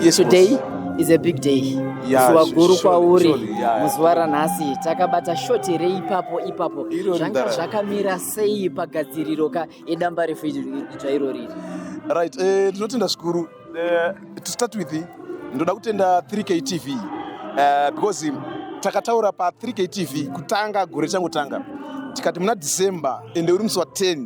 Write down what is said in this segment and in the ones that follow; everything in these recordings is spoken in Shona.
yes, today is a big day yeah, zuva guru kwauri yeah, yeah. muzuva ranhasi takabata shoti rei ipapo ipapo zvanga zvakamira sei pagadziriro ka edamba refu idzva iro riri right eh, tinotenda uh, zvikuru uh, to start with ndoda kutenda 3k tv uh, because takataura pa 3k tv kutanga gore changotanga tikati muna december ende uri musi wa 10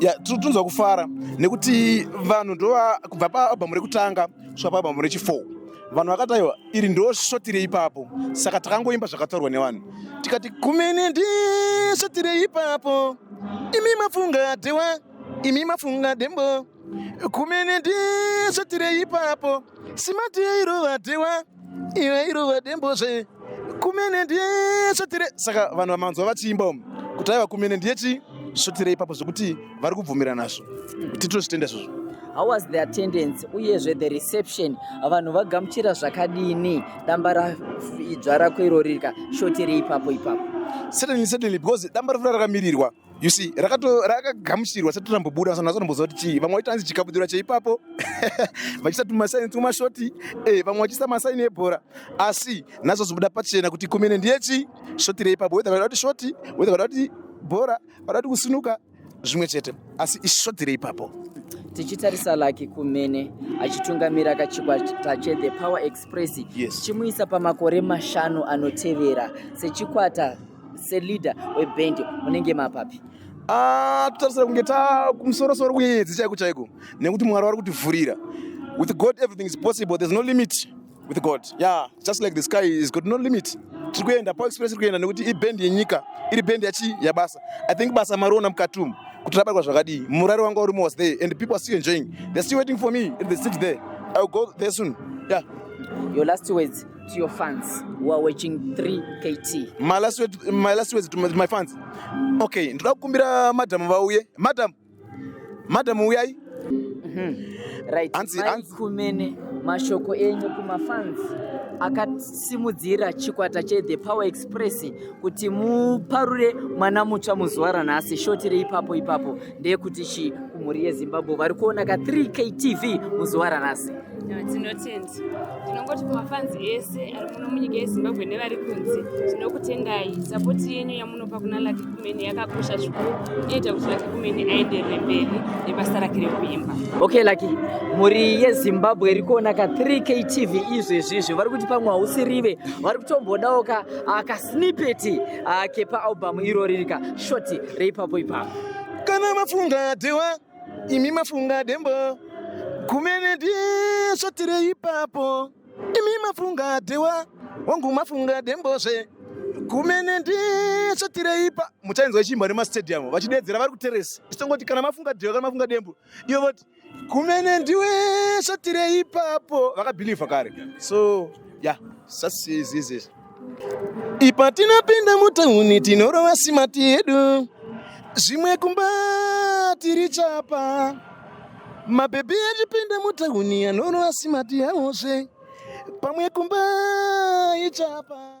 ya tiri kutonzwa kufara nekuti vanhu ndova kubva paalbhamu rekutanga kusvika paalbhamu rechifour vanhu vakataiwa iri ndo svotire ipapo saka takangoimba zvakataurwa nevanhu tikati kumene ndi svotire ipapo imi mafunga dhewa imi mafunga dembo kumene ndi svotire ipapo simati yairova dhewa iwe irova dembozve kumene ndiye svotire saka vanhu vamanzwa vachiimba umu kuti aiva kumene ndiye chi svotire ipapo zvekuti vari kubvumira nazvo kuti tozvitenda izvozvo how was the attendance uyezve the reception vanhu vagamuchira zvakadini damba raidzva rako irori rika svotire ipapo ipapo certainly certainly because damba rafura rakamirirwa you see rakagamuchirwa sati rambobuda vasana vasanomboziva kuti chii vamwe vaita hanzi chikabudura cheipapo vachiisa tumasaini twumashoti eh, vamwe vachiisa masaini ebhora asi nhasi vazobuda pachena kuti kumene ndiye chii shoti reipapo wethe vada kuti shoti wethe vada kuti bhora vada kuti kusinuka zvimwe chete asi ishoti reipapo tichitarisa laki kumene achitungamira kachikwata chethe power express yes. chimuisa pamakore mashanu anotevera sechikwata seleader weband munenge mapapi ah, tatarisira kunge ta kumusorosoro kunyenyedzi chaiko chaiko nekuti mwari wari kutivhurira with god everything is possible there's no limit with god yeah just like the sky is got no limit tiri kuenda power express iri kuenda nekuti ibhendi yenyika iri bhendi yachi yabasa i think basa mariona mukati umu kuti rabatwa zvakadii murari wanga urimo was there and people are still enjoying they're still waiting for me and they sit there i will go there soon yeah your last words to your fans who are watching 3KT. My last words, my last words to my, my fans. Okay, ndoda kukumbira madam vauye. Madam. Madam uyai. Mhm. Right. Anzi, anzi. Kumene mashoko enyu kuma fans akasimudzira chikwata che The Power Express kuti muparure mwana mutsva muzuva ranhasi shoti reipapo ipapo ndeyekuti chi kumhuri yezimbabwe vari kuona ka 3 ktv muzuva ranhasi tinotenda tinongoti kumafanzi ese ari muno munyika yezimbabwe nevari kunze tinokutendai sapoti yenyu yamunopa kuna laki kumene yakakosha zvikuru inoita kuti laki kumene aenderere mberi nebasa rake rekuimba okay laki mhuri yezimbabwe iri kuona ka 3 k tv izvezvizvi vari kuti pamwe hausirive vari kutombodawo ka ah, kasnipeti ah, kepaalbum irori rika shoti reipapo ipapo kana mafunga dewa imi mafunga dembo kumene ndisvatire ipapo imi mafunga dewa wangu mafunga dembozve kumene ndisvatire ipa muchainzwa ichiimba nemastadium vachideedzera vari kuteresa chitongoti kana mafunga dewa kana mafunga dembo ivo voti kumene ndiwe svatire ipapo vakabhilivha kare so ya yeah, sasizizizi Ipa tinopinda mutauni tinorova simati yedu zvimwe kumba tiri chapa mabhebhi achipinda mutauni anorova simati yavozve pamwe kumba ichapa